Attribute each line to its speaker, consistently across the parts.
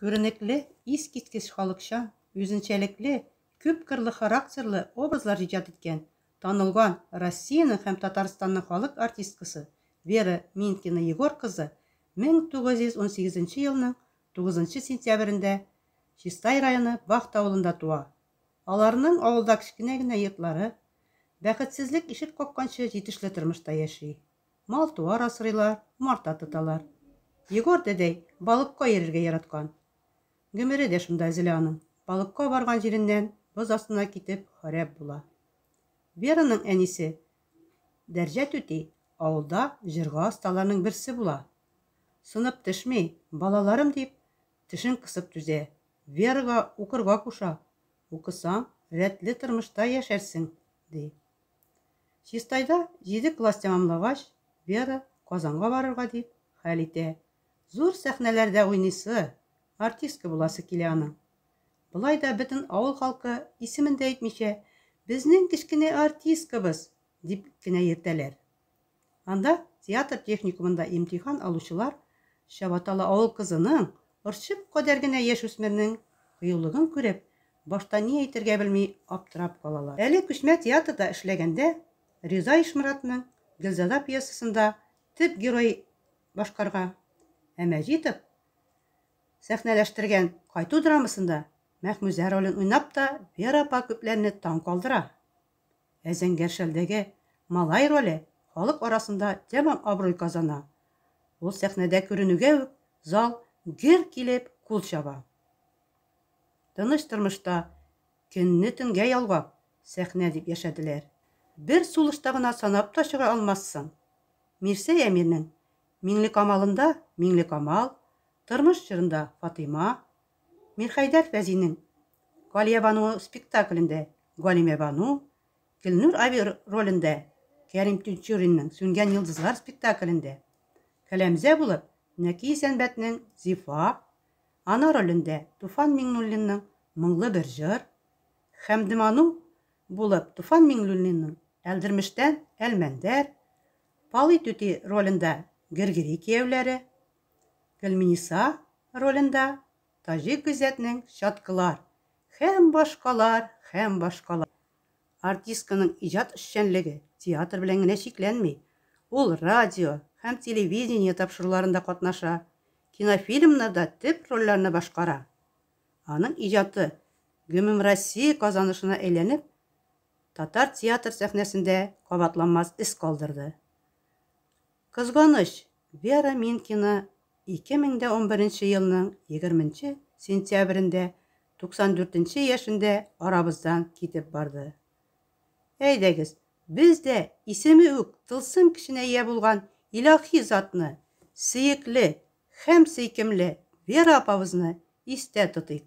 Speaker 1: Күренекле, искиткеч халыкчан, үзенчәлекле, күпкырлы характерлы образлар иҗат иткән, танылган Россиянең һәм Татарстанның халык артисткасы Вера Минкина Егор кызы 1918 елның 9 сентябрендә Чистай районы Бахта авылында туа. Аларның авылда кечкенә генә йортлары, бәхетсезлек ишек какканчы җитешле тормышта яши. Мал-туар асрыйлар, умарта тоталар. Егор дәдәй балыкка йөрергә яраткан. Гомере дә шунда өзелә аның, балыкка барган җиреннән боз астына китеп харап була. Вераның әнисе Дәрҗә түти авылда җырга осталарның берсе була. Сынып төшми, балаларым дип, тешен кысып түзә, Верага укырга куша, Укысаң, рәтле тормышта яшәрсең, ди. Чистайда җиде класс тәмамлагач, Вера Казанга барырга дип хәл итә. Зур сәхнәләрдә уйныйсы, артистка буласы килә аның. Болай да бөтен авыл халкы, исемен дә әйтмичә, Безнең кечкенә артисткабыз! дип кенә йөртәләр. Анда театр техникумында имтихан алучылар чабаталы авыл кызының, орчык кадәр генә яшь үсмернең кыюлыгын күреп, башта ни әйтергә белми аптырап калалар. Әле күчмә театрда эшләгәндә Риза Ишморатның Гөлзада пьесасында төп герой башкарга, ә Мәҗитов сәхнәләштергән Кайту драмасында Мәхмүзә ролен уйнап та Вера апа күпләрне таң калдыра. Ә Зәңгәр шәлдәге малай роле халык арасында тәмам абруй казана. Ул сәхнәдә күренүгә үк зал гөр килеп кул чаба. Тыныч тормышта көнне төнгә ялгап, сәхнә дип яшәделәр. Бер сулышта гына санап та чыга алмассың. Мирсәй Әмирнең Миңлекамалында Миңлекамал, Тормыш җырында Фатыйма, Мирхәйдәр Фәзинең Галиябану спектаклендә Галимәбану, Гөлнур аби ролендә Кәрим Тинчуринның Сүнгән йолдызлар спектаклендә Кәләмзә булып Нәки Сәнбәтнең Зифа, ана ролендә Туфан Миңнуллинның Моңлы бер җыр, Хәмдебану булып Туфан Миңнуллинның Әлдермештән Әлмәндәр, Палый түти ролендә Гергери кияүләре, Гөлминиса ролендә Таҗик Гыйззәтнең Чаткылар һәм башкалар һәм башкалар. Артистканың иҗат эшчәнлеге театр белән генә чикләнми, ул радио һәм телевидение тапшыруларында катнаша, кинофильмнарда төп рольләрне башкара. Аның иҗаты гөмемроссия казанышына әйләнеп, татар театр сәхнәсендә кабатланмас эз калдырды. Кызганыч, Вера Минкина 2011 елның 20 нче сентябрендә 94 нче яшендә арабыздан китеп барды. Әйдәгез, без дә исеме үк тылсым көченә ия булган илаһи затны, сөекле һәм сөйкемле Вера апабызны истә тотыйк.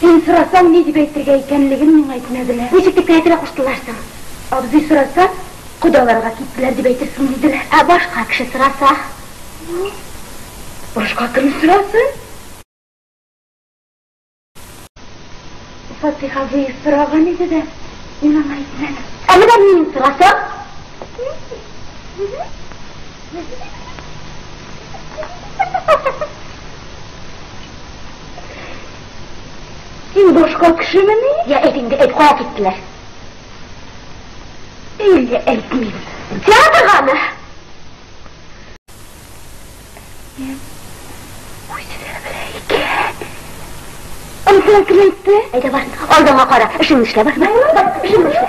Speaker 2: Син сорасаң, ни дип әйтергә икәнлеген миңа әйтмәделәр. Ничек дип керә-керә куштылар соң? Абзый сораса, кодаларга киттеләр дип әйтерсең, диделәр. Ә башка кеше сораса? Ну, башка кем сорасын? Фатих абый сораган иде дә, мин аңа әйтмәдем. Ә менә мин сорасам? Син башка кешемени? Я, әйт инде, әйт, кая киттеләр? Әллә әйтмим. Театргамы? Ансен киләйтте. Әйдә бар, алдыңа кара. Эшеңне эшлә, бар, бар. Бар, эшеңне эшлә.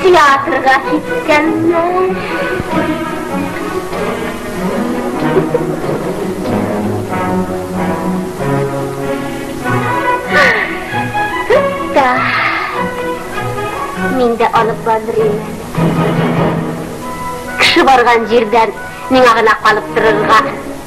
Speaker 2: Театрга киткәннәр. Мин дә алып барырмын. Кеше барган җирдән миңа гына калып торырга.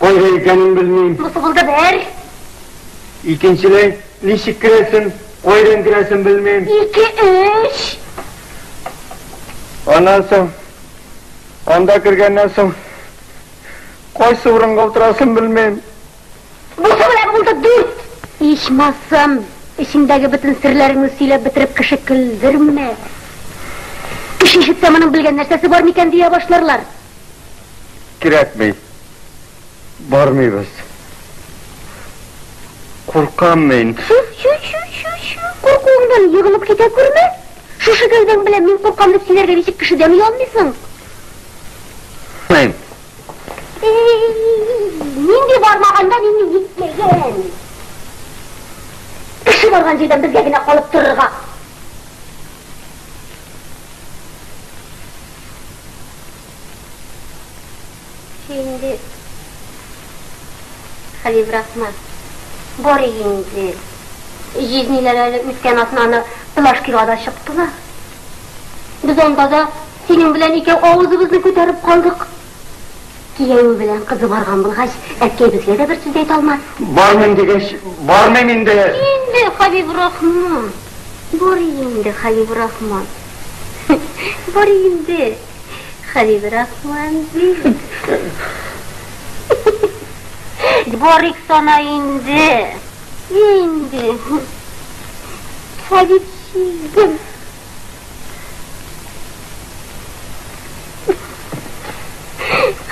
Speaker 3: Кайда икәнен белмим. Бусы булды бер. Икенчене ничек керәсен, кайдан керәсен белмим. Ике, өч. Аннан соң, анда кергәннән соң, кайсы урынга утырасын белмим. Бусы
Speaker 2: белән булды дүрт. Ичмасам, эчеңдәге бөтен серләреңне сөйләп бетереп кеше көлдермә. Кеше ишетсә, моның белгән нәрсәсе бар микән дия башларлар.
Speaker 3: Кирәкми. Бармыйбыз. Куркам мин. Чү-чү-чү-чү-чү.
Speaker 2: Куркуыңдан егылып китә күрмә. Шушы гәүдәң белән мин куркам дип сөйләргә ничек кешедән оялмыйсың?
Speaker 3: Мин.
Speaker 2: Нинди бармаганда мине нитләгән? Кеше барган җирдән безгә генә калып торырга. Инде хәле быракма. Бары инде. Җизниләр әле үткән атнаны Плашкига да чыктылар. Без анда да синең белән икәү авызыбызны күтәреп калдык. Кияүе белән кызы барган булгач, әткәй безгә дә бер сүз әйтә алмас. Бармыйм дигәч,
Speaker 3: бармыйм инде. Инде хәле
Speaker 2: быракма. Бары инде хәле быракма. Бары инде. Хәбибрахман бик. Барыйк сана инде. Инде. Хәбиб чигем.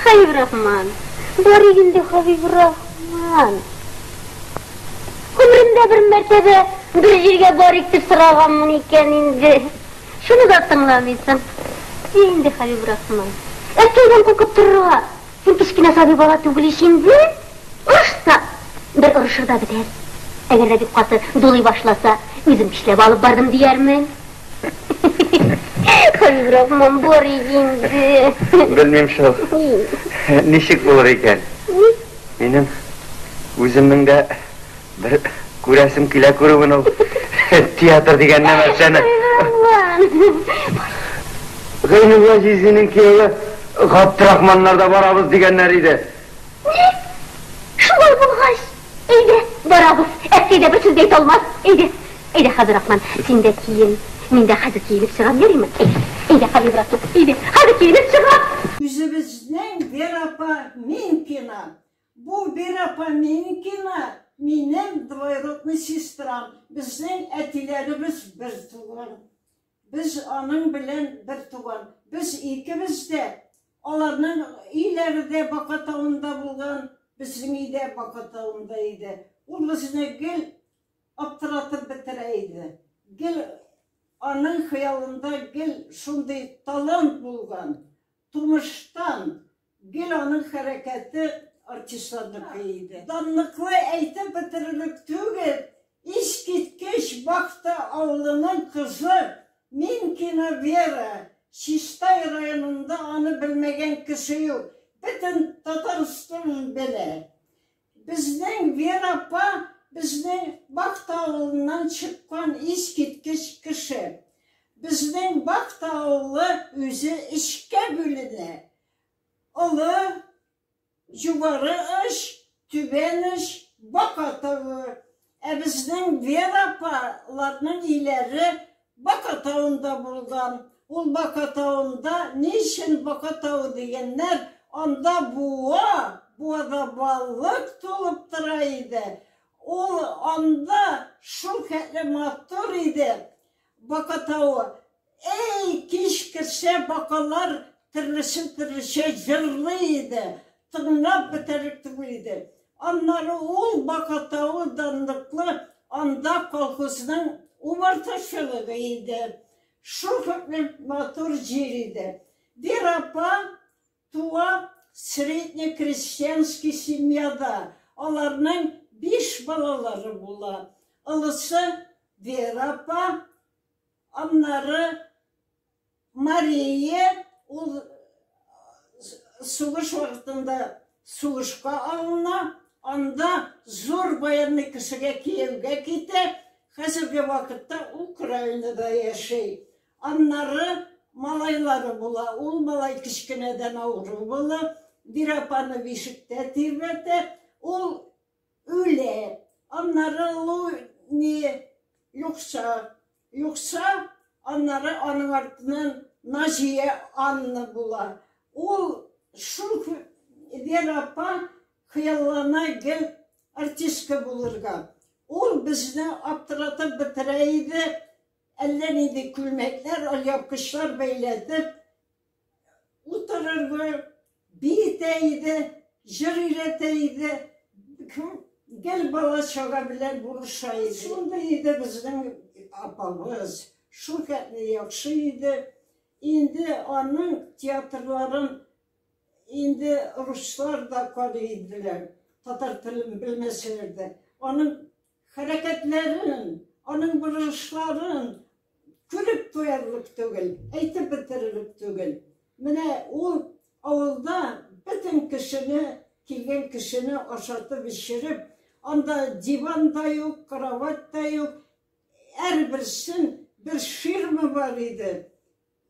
Speaker 2: Хәбибрахман. Барыйк инде Хәбибрахман. Гомеремдә бер мәртәбә бер җиргә барыйк дип сораганмын икән инде. Шуны да тыңламыйсың. Йә инде, Хәбиб Рахман. Әткәйдән куркып торырга! Син кечкенә сабый бала түгел ич инде! Орышсак, бер орышырда бетәр. Әгәр дә бик каты дулый башласа, үзем көчләп алып бардым диярмен. Хәбиб Рахман, бар ич инде. Белмим шул.
Speaker 3: Ничек булыр икән? Ник? Минем үземнең дә Бер күрәсем килә күрүен ул. Театр дигән нәмәрсәне. Гайнулла җизинең кияве Габдрахманнарда барабыз дигәннәр иде. Ни?
Speaker 2: Шулай булгач, әйдә, барабыз. Әткәй дә бер сүз дә әйтә алмас. Әйдә. Әйдә, Хәзрахман, син дә киен. Мин дә хәзер киенеп чыгам, ярыймы? Әйдә. Әйдә, калыйбрак кит. Әйдә. Хәзер киенеп чыгам. Үзебезнең
Speaker 4: Вера апа мин кина. Бу Вера Поменькина, минем двоюродный сестрам, безнең әтиләребез бер туган. Без аның белән бер туган. Без икебез дә, аларның өйләре дә Бака тавында булган, безнең өй дә Бака тавында иде. Ул безне гел аптыратып бетерә иде. Гел аның хыялында гел шундый талант булган. Тумыштан гел аның хәрәкәте артистларныкы иде. Данлыклы әйтеп бетерерлек түгел, искиткеч Бахта авылының кызы Минкина Вера, Чистай районында аны белмәгән кеше юк, бөтен Татарстан белә. Безнең Вера апа безнең Бакта авылыннан чыккан искиткеч кеше. Безнең Бакта авылы үзе өчкә бүленә. Олы, Югары Оч, Түбән Оч, Бака тавы. Ә безнең Вера апа ларның өйләре Бака тавында булган. Ул Бака тавында ни өчен Бака тавы дигәннәр, анда буа, буада балык тулып тора иде. Ул анда шул хәтле матур иде Бака тавы. Әй, кич керсә, бакалар төрлесен-төрлечә җырлый иде, тыңлап бетәрлек түгел иде. Аннары ул Бака тавы данлыклы Анда колхозның умартачылыгы иде. Шул хәтле матур җир иде. Бер апа туа средне крестьянский семьяда, аларның биш балалары була. Олысы Вера апа. Аннары Мария ул сугыш вакытында сугышка алына, анда зур баянлы кешегә кияүгә китә, хәзерге вакытта Украинада яши. Аннары малайлары була, ул малай кечкенәдән авыру була, бер апаны бишектә тирбәтә, ул Үле. Аннары ул ни юкса, юкса, аннары аның артыннан Назия Анна була. Ул шул Вера апа хыяллана гел артистка булырга. Ул безне аптыратып бетерә иде, әллә нинди күлмәкләр, алъяпкычлар бәйләтеп, Утырырды, биетә иде, җыр өйрәтә иде, гел бала-чага белән булыша иде. Шундый иде безнең апабыз, шул хәтле яхшы иде. Инде аның театрларын инде руслар да карый иделәр, татар телен белмәсәләр дә. Аның Хәрәкәтләрен, аның борылышларын күреп туярлык түгел, әйтеп бетерерлек түгел. Менә ул авылда бөтен кешене, килгән кешене ашатып-эчереп, анда диван да юк, кровать та юк, һәрберсен бер ширма бар иде.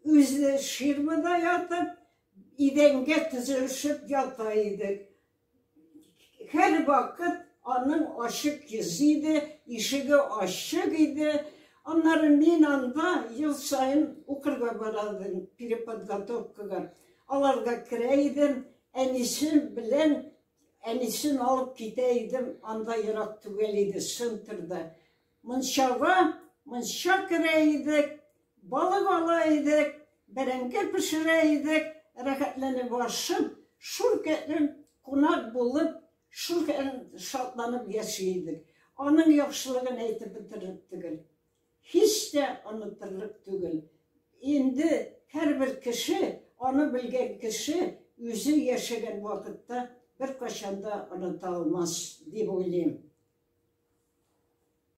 Speaker 4: Үзе ширмада ятып, идәнгә тезелешеп ята идек. Һәрвакыт аның ачык йөзе иде, ишеге ачык иде. Аннары мин анда ел саен укырга бара идем, переподготовкага. Аларга керә идем, әнисе белән әнисен алып китә идем, анда ерак түгел иде, центрда. Мунчага мунча керә идек, балык ала идек, бәрәңге пешерә идек, рәхәтләнеп ашып, шул көнне кунак булып, шул көнне шатланып яши идек. Аның яхшылыгын әйтеп бетерерлек түгел. Һич тә онытырлык түгел. Инде һәрбер кеше, аны белгән кеше үзе яшәгән вакытта беркайчан да оныта алмас дип уйлыйм.